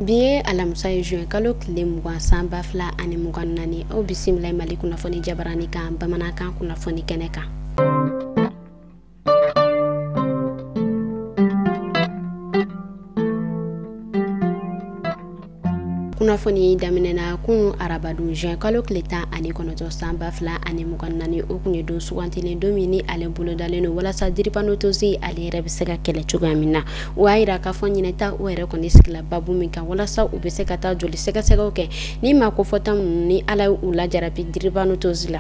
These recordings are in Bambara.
bi ye alamisa ye juin kalo tile mugan san ba fila ani mugan naani aw bisimila mali kunnafoni jabarani kan bamanankan kunnafoni kɛnɛ kan kunnafoni daminɛna kunu arabadon juin kalo tile tan ani kɔnɔntɔn san ba fila ani mugan naani o kun ye don sugantilen don min ni ale bolodalen don walasa diripanotosi ale yɛrɛ bɛ se ka kɛlɛ cogoya min na o y'a yira k'a fɔ ɲinɛ ta o yɛrɛ kɔni sigila baabu min kan walasa u bɛ se ka taa joli sɛgɛsɛgɛw kɛ ni maa kofɔta ninnu ni ala ye u lajarabi diripanotosi la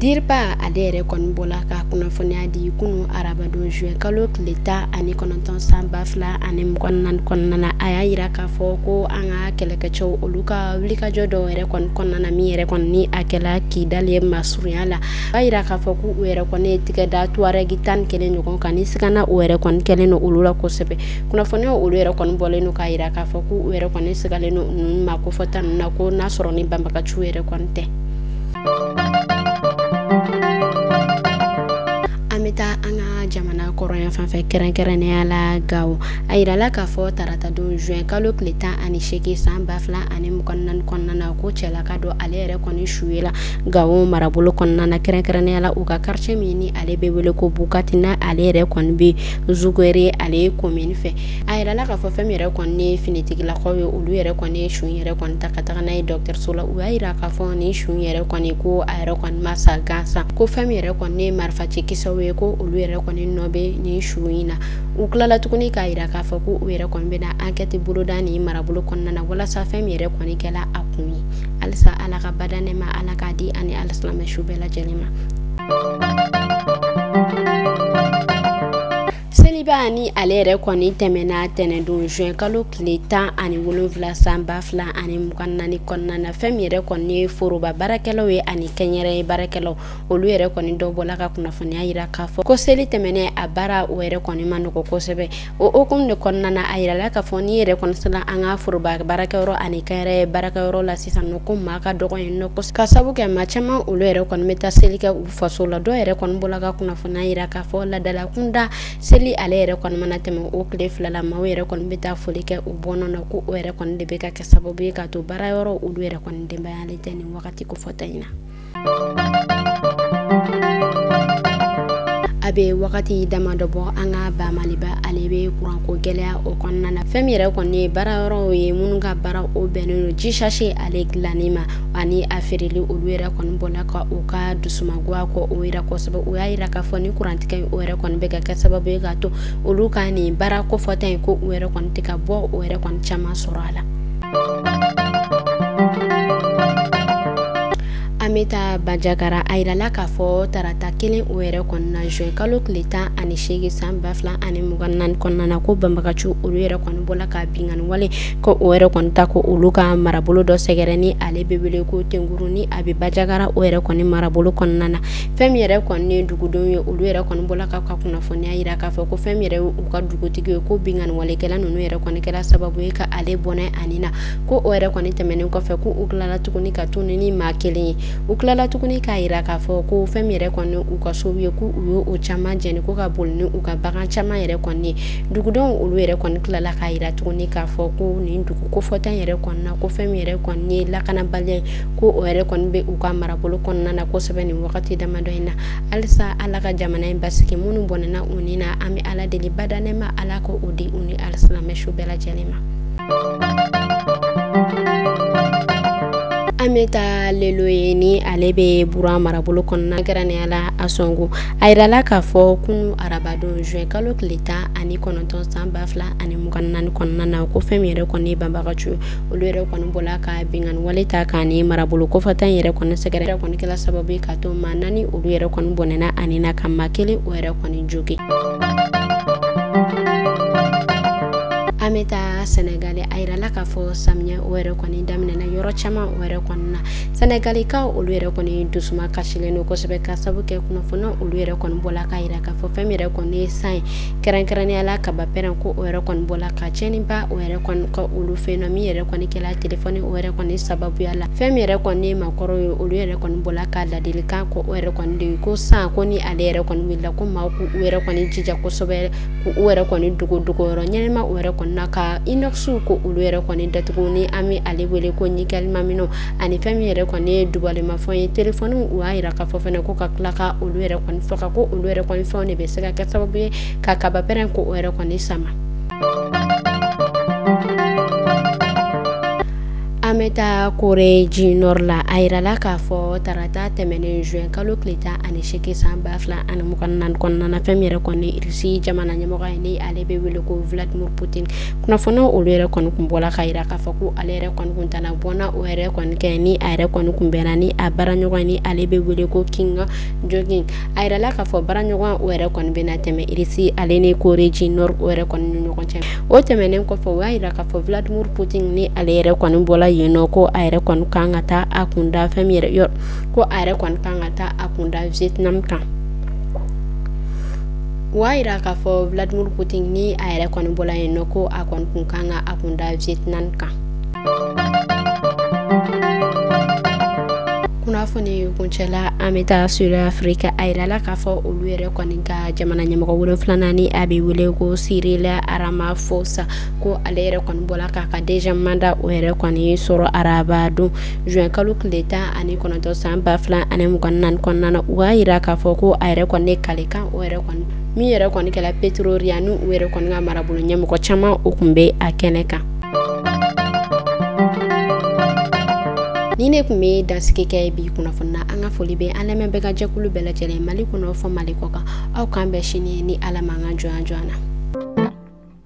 dirpa ale yɛrɛ kɔni bɔla ka kunnafoniya di kunu arabadon juin kalo tile tan ani kɔnɔntɔn san ba fila ani mugan naani kɔnɔna na a y'a yira k'a fɔ ko an ka kɛlɛkɛcɛw olu ka wulikajɔ dɔw yɛrɛ kɔni kɔnɔna na min yɛrɛ kɔni ni a kɛla kidali ye masurunya la a y'a yira k'a fɔ ko u yɛrɛ kɔni ye tigɛ da tuwarɛgi tan ni kelen ɲɔgɔn kan ni sigana o yɛrɛ kɔni kɛlen don olu la kosɛbɛ kunnafoniya olu yɛrɛ kɔni bɔlen don k'a yira k'a fɔ ko u yɛrɛ kɔni sigalen don ni maa kofɔta ninnu na ko n'a sɔrɔ ni banbagaciw yɛrɛ kɔni tɛ an bɛ taa an ka jamana kɔrɔya fanfɛ kɛrɛnkɛrɛnnenya la gawo a yirala k'a fɔ taratadon juin kalo tile tan ani seegin san ba fila ani mugan naani kɔnɔna na ko cɛlaka dɔ ale yɛrɛ kɔni su yela gawo marabolo kɔnɔna na kɛrɛnkɛrɛnnenya la u ka quartier min ni ale bɛ wele ko bukatina ale yɛrɛ kɔni bɛ zugwere ale commune fɛ a yirala k'a fɔ fɛn min yɛrɛ kɔni ye finitigilakaw ye olu yɛrɛ kɔni ye su yɛrɛ kɔni ta ka taga n'a ye dɔgɔtɔrɔso la u y'a yira k'a fɔ ni su yɛrɛ kɔni ko a yɛrɛ kɔni ma sa gansan ko fɛn min yɛrɛ kɔni ye marifaci kisɛw ye ko olu yɛrɛ kɔni nɔ bɛ ni su in na u tilala tuguni k'a yira k'a fɔ ko u yɛrɛ kɔni bɛna enquête boloda ni marabolo kɔnɔna na walasa fɛn min yɛrɛ kɔni kɛla a kun ye halisa ala ka badaa nɛɛma ala k'a di a ni alisilamɛ su bɛɛ lajɛlen ma Seliba ni ale yɛrɛ kɔni tɛmɛna tɛnɛndon juin kalo tile tan ani wolonwula san ba fila ani mugan naani kɔnɔna na fɛn min yɛrɛ kɔni ye foroba baarakɛlaw ye ani kɛnyɛrɛye baarakɛlaw olu yɛrɛ kɔni dɔ bɔla ka kunnafoniya yira k'a fɔ ko seli tɛmɛnen a baara o yɛrɛ kɔni ma nɔgɔ kosɛbɛ o hukumu de kɔnɔna na a yirala k'a fɔ n'i yɛrɛ kɔni sela an ka foroba baarakɛyɔrɔ ani kɛnyɛrɛye baarakɛyɔrɔ la sisan nɔ ko maa ka dɔgɔ yen nɔ k'a sabu kɛ maa caman olu yɛrɛ kɔni bɛ taa seli kɛ u faso la dɔw yɛrɛ kɔni bɔla ka kunnafoniya yira k'a fɔ laadalakunda seli ale yɛrɛ kɔni mana tɛmɛ o tile fila la maaw yɛrɛ kɔni bɛ taa foli kɛ u bɔnna na ko o yɛrɛ kɔni de bɛ ka kɛ sababu ye k'a to baarayɔrɔ olu yɛrɛ kɔni denbayalen tɛ nin wagati kofɔta in na a bɛ wagati dama dɔ bɔ an ka ba maliba ale bɛ kuranko gɛlɛya o kɔnɔna na fɛn min yɛrɛ kɔni ye baara yɔrɔw ye minnu ka baara o bɛnnen don ji sachet ale dilanni ma ani a feereli olu yɛrɛ kɔni bɔla ka u ka dusumangoya ko o yira kosɛbɛ u y'a yira k'a fɔ ni kurantigɛ in o yɛrɛ kɔni bɛ ka kɛ sababu ye k'a to olu ka nin baara kofɔta in ko u yɛrɛ kɔni tɛ ka bɔ o yɛrɛ kɔni caman sɔrɔ a la an bɛ taa banjagara a yirala k'a fɔ tarata kelen o yɛrɛ kɔnɔna juin kalo tile tan ani seegin san ba fila ani mugan naani kɔnɔna na ko banbagaciw olu yɛrɛ kɔni bɔla ka binkanni wale ko o yɛrɛ kɔni ta ko olu ka marabolo dɔ sɛgɛrɛ ni ale bɛ wele ko tenkuru ni a bɛ banjagara o yɛrɛ kɔni marabolo kɔnɔna na fɛn min yɛrɛ kɔni ye dugudenw ye olu yɛrɛ kɔni bɔla ka ka kunnafoniya yira k'a fɔ ko fɛn min yɛrɛ u ka dugutigi ye ko binkanni walekɛla ninnu yɛrɛ kɔni kɛra sababu ye ka ale bɔnɛ a ni na ko o yɛrɛ kɔni tɛmɛnen kɔfɛ ko u tilala tuguni ka tunun ni maa kelen ye u tilala tuguni k'a yira k'a fɔ ko fɛn min yɛrɛ kɔni u ka sow ye ko u ye o caman jeni ko ka boli ni u ka bagan caman yɛrɛ kɔni ye dugudenw olu yɛrɛ kɔni tilala k'a yira tuguni k'a fɔ ko nin dugu kofɔta yɛrɛ kɔnɔna ko fɛn min yɛrɛ kɔni ye lakanabaliya ye ko o yɛrɛ kɔni bɛ u ka marabolo kɔnɔna na kosɛbɛ nin wagati damadɔ in na halisa ala ka jamana in basigi minnu bɔnɛna u ni na an bɛ ala deli badaa nɛɛma ala ka o di u ni alisilamɛ su bɛɛ lajɛlen ma an bɛ taa leloye ni ale bɛ bura marabolo kɔnɔna kɛrɛnkɛrɛnnenya la ansongo a yirala k'a fɔ kunu arabadon juin kalo tile tan ani kɔnɔntɔn san ba fila ani mugan naani kɔnɔna na ko fɛn min yɛrɛ kɔni banbagaciw olu yɛrɛ kɔni bɔla ka binkanni wale ta ka nin marabolo kofɔta in yɛrɛ kɔni sɛgɛrɛ yɛrɛ kɔni kɛla sababu ye k'a to maa naani olu yɛrɛ kɔni bɔnɛna a ni na ka maa kelen o yɛrɛ kɔni jogin an bɛ taa sɛnɛgali a yirala k'a fɔ samiya o yɛrɛ kɔni daminɛna yɔrɔ caman o yɛrɛ kɔni na sɛnɛgalikaw olu yɛrɛ kɔni dusuma kasilen don kosɛbɛ ka sabu kɛ kunnafoni olu yɛrɛ kɔni bɔla k'a yira k'a fɔ fɛn min yɛrɛ kɔni ye san ye kɛrɛnkɛrɛnnenya la kaba pɛrɛn ko o yɛrɛ kɔni bɔla ka tiɲɛniba o yɛrɛ kɔni kɛ olu fɛ yen nɔ min yɛrɛ kɔni kɛla telefɔni o yɛrɛ kɔni sababuya la fɛn min yɛrɛ kɔni ye maakɔrɔw ye olu yɛrɛ kɔni bɔla ka ladilikan ko o yɛrɛ kɔni di ko san ko ni ale yɛrɛ kɔni wulila ko maa k'u yɛrɛ kɔni jija kosɛbɛ k'u yɛrɛ kɔni dogo dogoyɔrɔ ɲɛnama o yɛrɛ kɔni na ka inoxw ko olu yɛrɛ kɔni datugu ni an bɛ ale wele ko nikɛlima minɛnw ani fɛn min yɛrɛ kɔni ye dubalemafɛn ye telefɔni u y'a yira k'a fɔ fɛnɛ ko ka tila ka olu yɛrɛ kɔni faga ko olu yɛrɛ kɔni fɛnw de bɛ se ka kɛ sababu ye ka kaba pɛrɛn ko o yɛrɛ kɔni sama an bɛ taa corée du nord la a yirala k'a fɔ tarata tɛmɛnen juin kalo tile tan ani seegin san ba fila ani mugan naani kɔnɔna fɛn min yɛrɛ kɔni irisi jamana ɲɛmɔgɔ ye ni ale bɛ wele ko vladimir putin kunnafoni olu yɛrɛ kɔni kun bɔla k'a yira k'a fɔ ko ale yɛrɛ kɔni kun taala bɔnna o yɛrɛ kɔni kɛ ni a yɛrɛ kɔni kun bɛnna ni a baaraɲɔgɔn ni ale bɛ wele ko kim jong un a yirala k'a fɔ baaraɲɔgɔn o yɛrɛ kɔni bɛna tɛmɛ irisi ale ni corée du nord o yɛrɛ kɔni ni ɲɔgɔn cɛ o tɛmɛnen kɔfɛ o y'a yira k'a fɔ vladimir putin ni ale yɛrɛ kɔni bɔla yen nɔ ko a yɛrɛ kɔni kan ka taa a kunda fɛn min yɛrɛ yɔrɔ ko a yɛrɛ kɔni kan ka taa a kunda vietnam kan o y'a yira k'a fɔ vladimir putin ni a yɛrɛ kɔni bɔla yen nɔ ko a kɔni kun kan ka a kunda vietnam kan kunnafoni kuncɛla an bɛ taa sud afirika a yirala k'a fɔ olu yɛrɛ kɔni ka jamana ɲɛmɔgɔ wolonfilanan ni a bɛ wele ko cyril ramaphosa ko ale yɛrɛ kɔni bɔla k'a ka deuxième mandat o yɛrɛ kɔni sɔrɔ araba don juin kalo tile tan ani kɔnɔntɔn san ba fila ani mugan naani kɔnɔna na u y'a yira k'a fɔ ko a yɛrɛ kɔni ne kalikan o yɛrɛ kɔni min yɛrɛ kɔni kɛla pretoria ni u yɛrɛ kɔni ka marabolo ɲɛmɔgɔ caman o kun bɛ a kɛnɛ kan ni ne kun bɛ dansigi kɛ bi kunnafoni na an ka foli bɛ an lamɛnbaga jɛkulu bɛɛ lajɛlen mali kɔnɔ fɔ mali kɔkan aw k'an bɛn sini ni ala ma an ka jɔnya jɔnya na